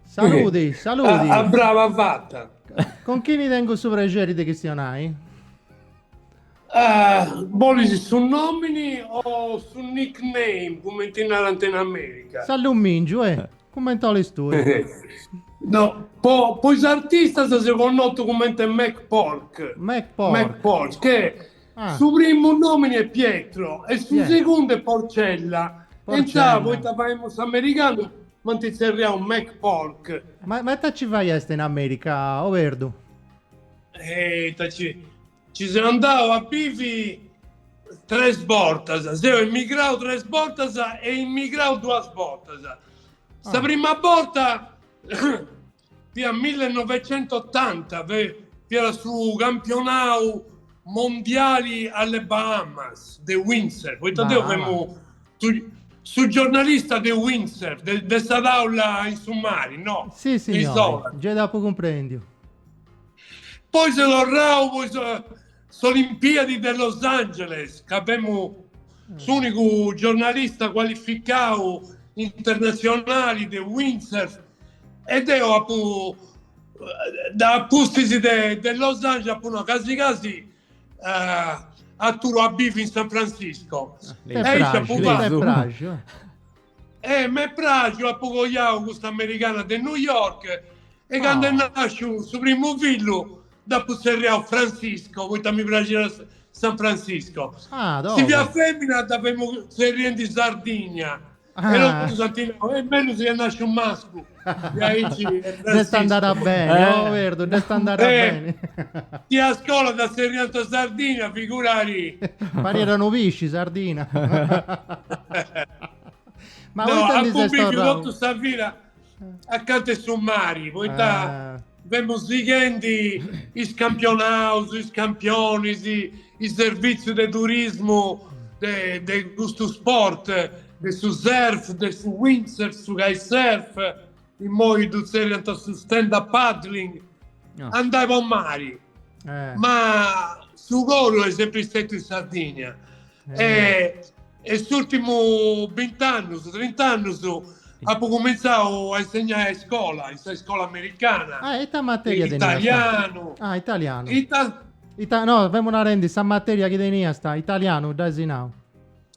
S1: Saludi, saludi. A, a brava faci. Con chini tengu su prexeri de chistionai? Uh, bolis su nomini o su nickname, cumenti ddi narant in America? S'allummingiu, eh, cumenti olis tui. no, po, po is artistas seu connotu cumenti Mac Pork. Mac Pork. Mac Pork, che... Su primu nòmini est Pietro e su segundu est Porcella. E intzà, poita femu s'americanu, m'ant tzerriau McPork. Ma ita nci faiast in Amèrica, o Perdu? Ita nci. Nci seu andau a bivi tres bortas. Seu emigrau tres bortas e immigrau duas bortas. Sa prima borta. fiat millenovecentottanta fiat su campionau mondiali alle Bahamas de windsurf poita deu femu su giornalista de windsurf de sa taula in su mari no si signori gei d'apu cumprendiu poi seu torrau S'Olimpiadi de Los Angeles, ca femu s'unicu giornalista cualificau internatzionali de windsurf e deu apu da pustis de Los Angeles apu nau casi casi aturu a bivi in San Francisco. E aici apu fatu E m'est pràxiu, apu coiau custa americana de New York e candu est nàsciu su primu fillu dd'apu tzerriau Francisco, poita mi praxiat San Francisco. Si fiat fèmina dda femu tzerriendi Sardigna e totu ant nau, est mellus chi est nàsciu mascu. Dd'est andada beni, oh Perdu, dd'est andada beni. Chi a scola dda zerriant Sardina, figurari. Pariat unu pisci, Sardina. Ma no, apu bìviu totu sa vida acanta 'e su mari, poita... Femus sighendi is campionaus, is campionis, is servìtzius de turismu de custu sport, de su surf, de su windsurf, su kitesurf, immoi ddu tzerriant su stand up paddling, andai po mari. Ma su coru est sempri stetiu in Sardigna e E s'ùrtimu bint'annus, trint'annus, apu cumintzau a insegnai a iscola, in sa iscola americana. Ah, e ita materia teniasta? Italianu. Ah, italianu. Ita? Ita, no, femu narendi sa materia chi teniasta, italianu as insinnau.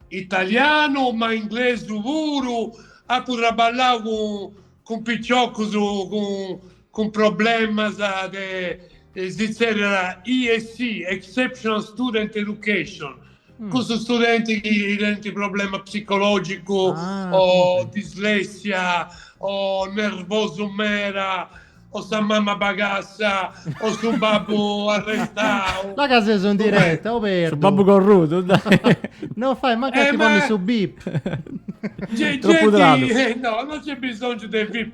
S1: Italianu, ma inglesu puru, apu traballau cun cun piciocus cun cun problemas de, si zerriat ESE, Exceptional Student Education, cun su studenti chi tenint problema psicològicu o dislèssia o nervosu meda o sa mama bagassa o su babbu arrestau. La ca seus in direta o Perdu? Su babbu corrudu, dai. Non fait mancu a ti ponni su bip. Genti, no, non nc'est bisongiu de bip.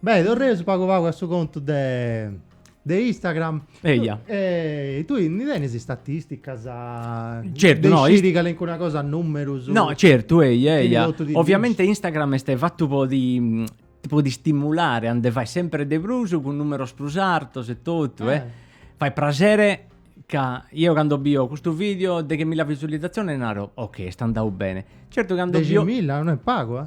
S1: Beh, torraus pagu pagu a su contu de, de Instagram. Eia. E tui ndi tenis istatisticas Certu, de no, is- sciri calincuna cosa a numerus? No, certu, eia, Chini eia. totu ti Ovviamente Instagram est fatu po ti po ti stimulare a nde fai sempre de prus cun numeros prus artos e totu, eh. Fait praxere ca ieu cando bio custu video deghemilla visualizzazione naro, ok, est andau bene. Certu cando bio Deximilla, no est pagu, eh.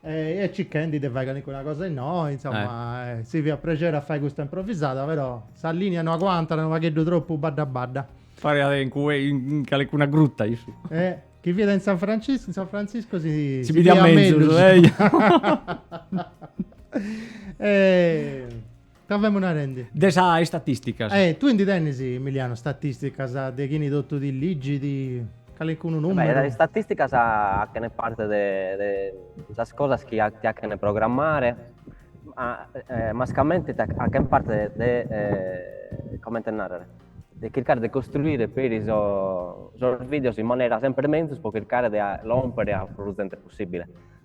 S1: e circhendi de fai calincuna cosa innoi, insomma, eh. si fiat prexeri a fai custa improvisada, però sa lìnia no aguantat, unu pagheddu tropu badda badda. Pariat in cue in calincuna gruta issu. Eh, chi fiat in San Franciscu, in San Franciscu si si bidiat mellus. Eh. Ca femu narendi. De sas istatisticas. E tui ndi tenis, Emiliano, statisticas de chini totu ti ligit calincunu numeru? Beh, sas istatisticas achene parti de de sas cosas chi ti achene programmare, ma mascamenti achene parti de de comente narrere, de chircare de costruire peri sos videos in manera semper menzus po chircare de lompere a prus zente possibile.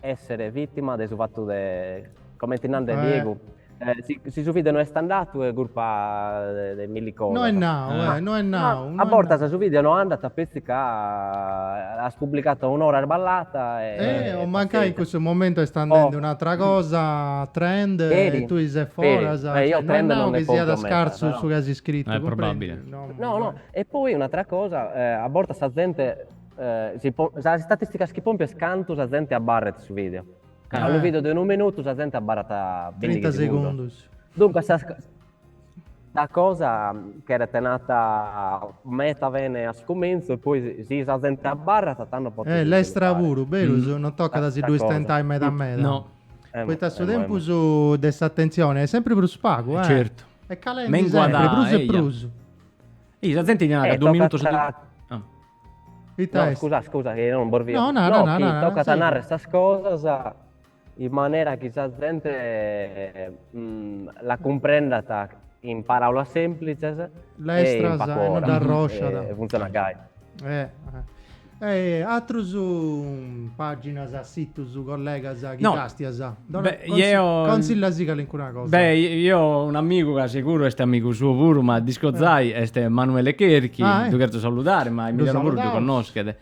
S1: essere vittima de su fattu de, comenti nande eh. Diegu, eh, si, si, su video no est andatu è curpa de, de milli cosas. No est nau, eh, no est nau. No a bortas su video no andat a petzi ca as pubblicatu a un'ora sballata e... Eh, o mancai in cussu momentu est andendi oh. un'atra cosa, trend, peri, e tue ses foras. Peri. Eh, io cioè, trend non, non che siat scarsu però. su chi as scrittu. È eh, probabile. No, no, no, e poi un'atra cosa, eh, a bortas sa gente Sas istatisticas chi pompias cantu sa zente abarrat in su video. Ca unu video de unu minutu sa zente abarrat bindighi segundus. Duncas sa sa cosa cheret nata meta bene a su comentzu e poi si sa zente abarrat tando podes puru fai. Eh lestra puru, berus, non tocat a si ddu istentai meda meda. No. Poita su tempus de s'atentzioni est sempri prus pagu, eh. Certu. Est calendi sempri prus e prus. Eia, sa zente ti narat ca duus minutus. Ita est? No, scusa, scusa, chi non bos fia... No, nara, nara, nara. No, chi tocat a narrer sas cosas in manera chi sa zente la cumprendat in paraulas semplizes e in pagu ora. E funtzionat gai. E atras paginas, situs, collegas chi castias? Dora, Beh, consi- io... Consilla·sì calincuna cosa. Beh, io un amigu ca seguru est amigu tuo puru, ma discozai, eh. est Manuele Cherchi, ah, eh. du cherzo saludare, ma Emiliano puru du connoschet.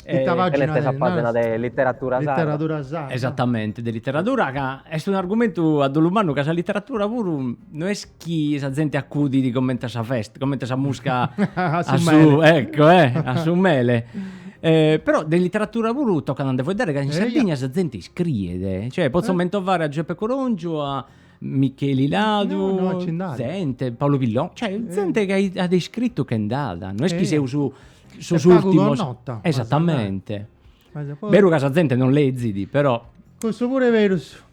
S1: E ita pagina est sa pagina de literatura sarda. Literatura sarda. Esattamente, de literatura ca est un argumentu a dolu mannu ca sa literatura puru no est chi sa zente accudit comente a sa festa, comente a sa musca a, su a su, ecco, eh, a su mele. Eh, però de literatura puru toccat a nde faeddare ca in Sardigna sa zente iscriet, cioè potzo eh? mentovare a Giuseppe Corongiu, a Micheli Ladu, no, no, zente, Paolo Pillon, cioè eh. zente eh. chi at iscrittu che nd'at, no est chi eh. seus su, sos ultimos... Nota, Esattamente. Beru ca sa zente non lezzit, però... Questo pure è vero.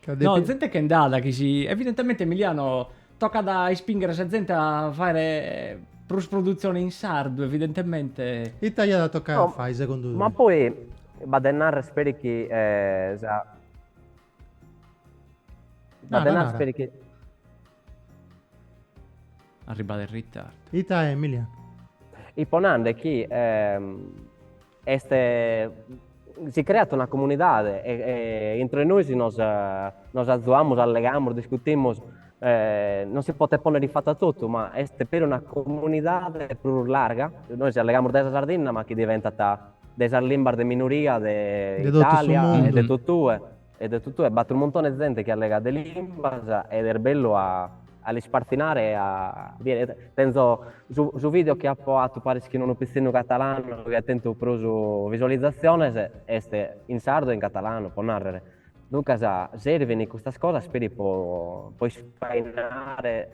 S1: Ca depi... No, zente che nd'at chi si... Evidentamente Emiliano tocat a ispinghere sa zente a faghere prus produtzione in sardu, evidentamente. Ita iat a tocai a fai segundu tui? Ma poi b'at de narrer peri chi sa... B'at de narrer Speri chi... Arribat in ritardu. Ita Emiliano? Ipo nande chi Est si creat una comunidade e intro 'e nois nos nos azuamus, allegamus, discutimus, non si potet ponnere in fattu a totu, ma est peri una comunidade prus larga, nois allegamus dae sa Sardinna ma chi diventat de sas limbas de minoria de Italia e de totue. E de totue b'at unu muntone 'e zente chi allegat de limbas ed est bellu a a l'ispartzinare e a bider, tenzo su su video chi apo fatu paris chin unu pitzinnu catalanu chi at tentu prus visualizatziones est in sardu e in catalanu po narrer, duncas servin custas cosas peri po po ispainare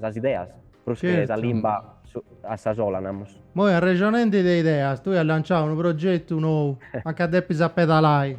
S1: sas ideas prus che sa limba a sa sola namus. Moi arrexonende de ideas tue as lanciau unu progetu nou, anca depis a pedalai.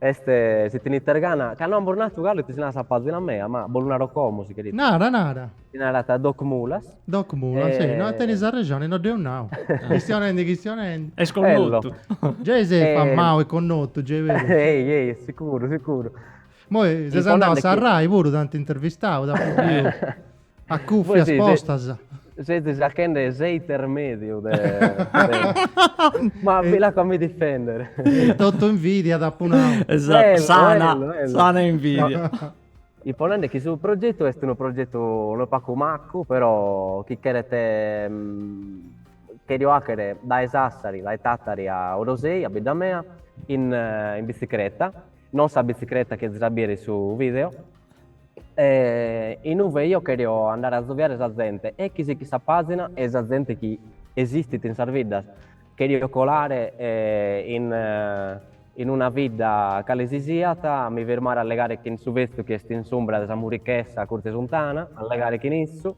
S1: Est si tenites gana, ca no amus natu galu ite si narat sa pazina mea, ma bos lu naro como si cheriat. Nara, nara. Si narat Doc Mulas. Doc Mulas, e... no, tenis arrexoni, no dd'eus nau. Chistionendi, chistionendi. Est connotu. Gei ses famau e connotu, gei est berus. Gei, gei, sicuru, sicuru. Moi ses andau a sa Rai puru, t'ant intervistau, t'ant biu. A cùfias postas. Sezis achende s'intermèdiu de. Ma bi l'aco a mi difèndere. Totu invidia t'apu nau. Esatu, sana, sana invidia. Ipo nende chi su progetu est unu progetu unu pagu macu, però chi cheret, cherio àchere dae Sassari, dae Tàtari a Orosei, a bidda mea, in bicicreta, non sa bicicreta chi azis a bìere in su video, E inube eo cherio andare a azoviare sa zente e chi sichit sa pàzina e sa zente chi esistit in sas biddas. Cherio colare in in una bidda cale si siat, a mi firmare a allegare chin su betzu chi est in s'umbra de sa murichessa accurt'e s'untana, a allegare chin issu,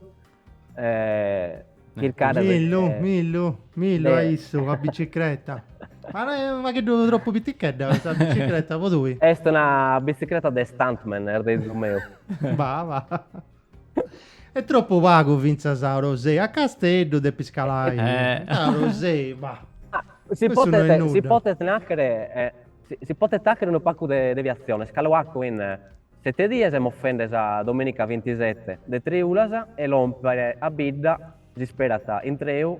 S1: chircada Millu millu millu a issu a bicicreta Ma est unu pagheddu tropu pitichedda sa bicicreta po tui Est una bicicreta de stuntman nardeis su meu Ba ba Est tropu pagu fintzas a Orosei a Casteddu depis calai a Orosei ba Si potet si potent achere si potet achere unu pagu de deviatziones calo pagu in Sette dies moffende sa domenica vintisette de triulas e lòmpere a bidda s'isperat intreu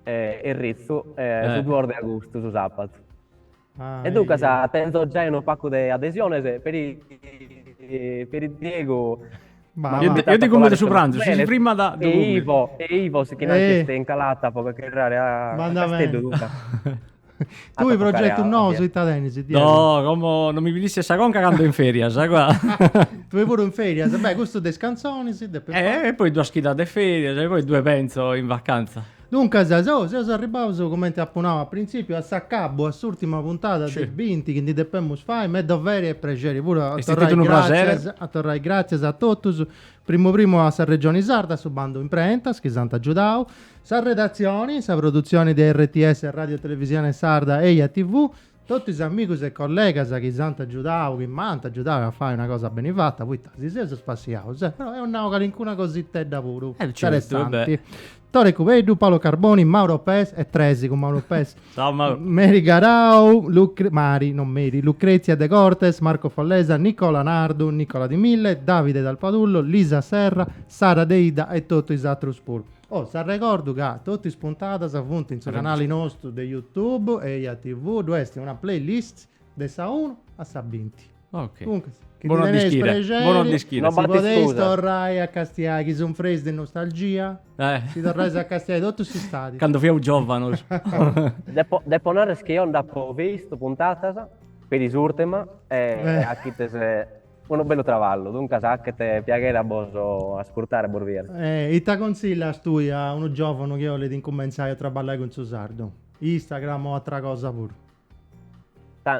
S1: e ritzu su duos de agustu, su sabatu. E duncas tenzo giai unu pacu de adesiones peri peri Diegu. Io ti cumento su pranzu, si si frimat ddu cumento. E Ivo, e Ivo si chin anch'est in calata po chircare a Casteddu duncas. Tui progetus nous ita tenis? No, como non mi pillisses sa conca ca ando in ferias, qua. Tui puru in ferias, beh, custu de is cantzonis depis fai. Eh, e poi duas chidas de ferias e poi ddue penzo in vacanza. Duncas, seo, seus arribaus, cumenti apu nau a printzipiu, a s'acabu, a s'urtima puntada de binti chi ndi depemus fai, m'est doveri e prexeri puru a torrai, gràtzias, a torrai gràtzias a totus, Primu primu a sa Regioni Sarda, a su bandu imprentas chi si ant agiudau, sa redatzioni, sa produtzioni de RTS Radio Televisione Sarda e Eja TV, totu is amigus e collegas chi si ant agiudau, chi m'ant agiudau a fai una cosa beni fata, poita si seus spassiaus, eh, però eus nau calincuna cositedda puru, interessanti. Tore Cubeddu, Paolo Carboni, Mauro Pes e Tresi cun Mauro Pes. Ciao Mauro. Meri Garau, Lucre, Mari, non Meri, Lucrezia Degortes, Marco Follesa, Nicola Nardu, Nicola Di Mille, Davide Dal Padullo, Lisa Serra, Sara Deidda e totu is atrus puru. Oh, si arregordu ca totu is puntadas funt in su canali nostru de YouTube, Eja TV, ddoi est una playlist de sa 1 a sa 20. Ok. Comunque, chi Buon ti teneis dischire. prexeri, Buon dischire. No si b'at podeis iscusa. torrai a castiai, chi sunfreis de nostalgia, Eh. si torrais a castiai totu s'istadi. Cando fiaus giòvanus. Depo, depo narrer chi eo nd'apo vistu puntatas, peri s'ùrtima, e Eh. achites unu bellu traballu, duncas achet piaghere a bos ascurtare e bos biere. E ita consillas tui a unu giòvanu chi 'olit incumentzai a traballai cun su sardu? Instagram o atra cosa puru?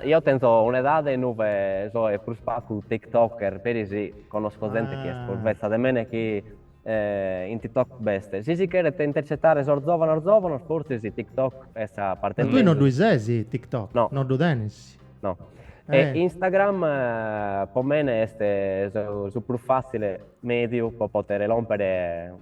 S1: Io tenzo un'edade inuve soe prus pagu tiktoker, peri si conosco zente chi est prus betza de mene chi in tiktok b'est. Si si cheret intercetare sos zovanos zovanos fortzis tiktok est sa parte mezus. Ma tue no ddui ses tiktok? No. No ddu tenes? No. E Instagram po mene est su prus fatzile mediu po potere lompere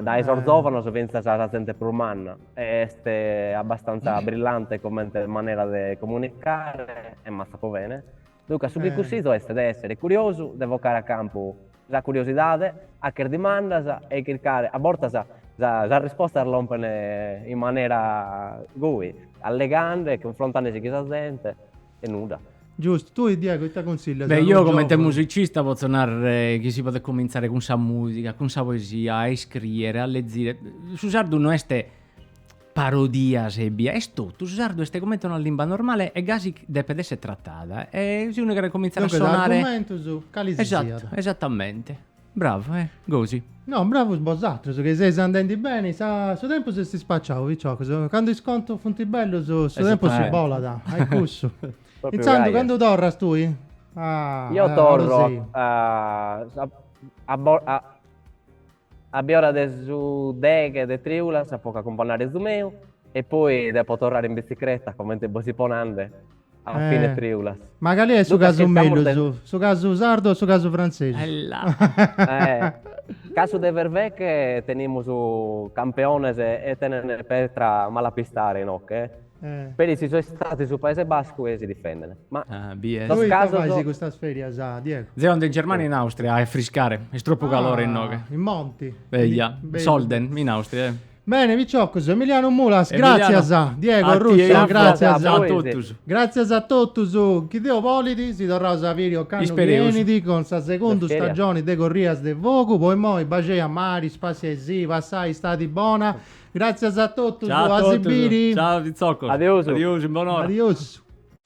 S1: Dae sos zòvanos fintzas a sa zente prus manna, est abbastanza brillante comente manera de comunicare e massa po bene. Duncas su chi cussizo est de èssere curiosu, de vocare a campu sa curiosidade, hacher dimandas e chircare, a bortas sas rispostas lompen in manera goi, allegande e cunfrontande si chin sa zente. e nudda. Giustu, tui Diego ita consillias a unu giovunu? Beh, io comente musicista potzu narrere chi si podet comintzare cun sa musica, cun sa poesia, a iscriere, a lezire, su sardu no est parodias ebbia, est totu, su sardu est comente una limba normale e gasi depet esser tratada e si unu cheret comintzare a sonare... Duncas argumentus, cali si siat. Esatto, esattamente. Bravu, eh, gosi. No, bravus bosatrus, chi seis andendi beni, sa, su tempus est ispaciau, piciocus, candu is contus funt bellus, su tempus bolat, a i cussu. Intzandus, candu torras tui? A, a Orosei. a biora de su deghe de triulas, po che acumpannare su meu, e poi depo torrare in bitzicreta, comente bos ipo nande. A fine triulas. Ma cali est su casu mellus, su casu sardu o su casu frantzesu. Ella. Casu de verveche tenimus campeones e tenent petra mala a pistare inoche, peri si so istadu in su Paese Bascu e si difendent. Ma sos casos. Ita fais custas ferias, Diego? Deo ando in Germania e in Austria a friscare, est tropu calore inoghe. In monti. Eja, in Sölden, in Austria. Bene piciocos, Emiliano Mulas, gràtzias, Diego Russo, gràtzias a totus, gràtzias a totus, chi Deus bolit si torraus a biri ocannu chi 'enit cun sa segundu stagioni de Corrias de Fogu, po imoi baxei a mari, spassiai·sì, passai istadi bona, gràtzias a totus, a si biri. Ciao a totus, ciao piciocos, adiosu, in bon'ora.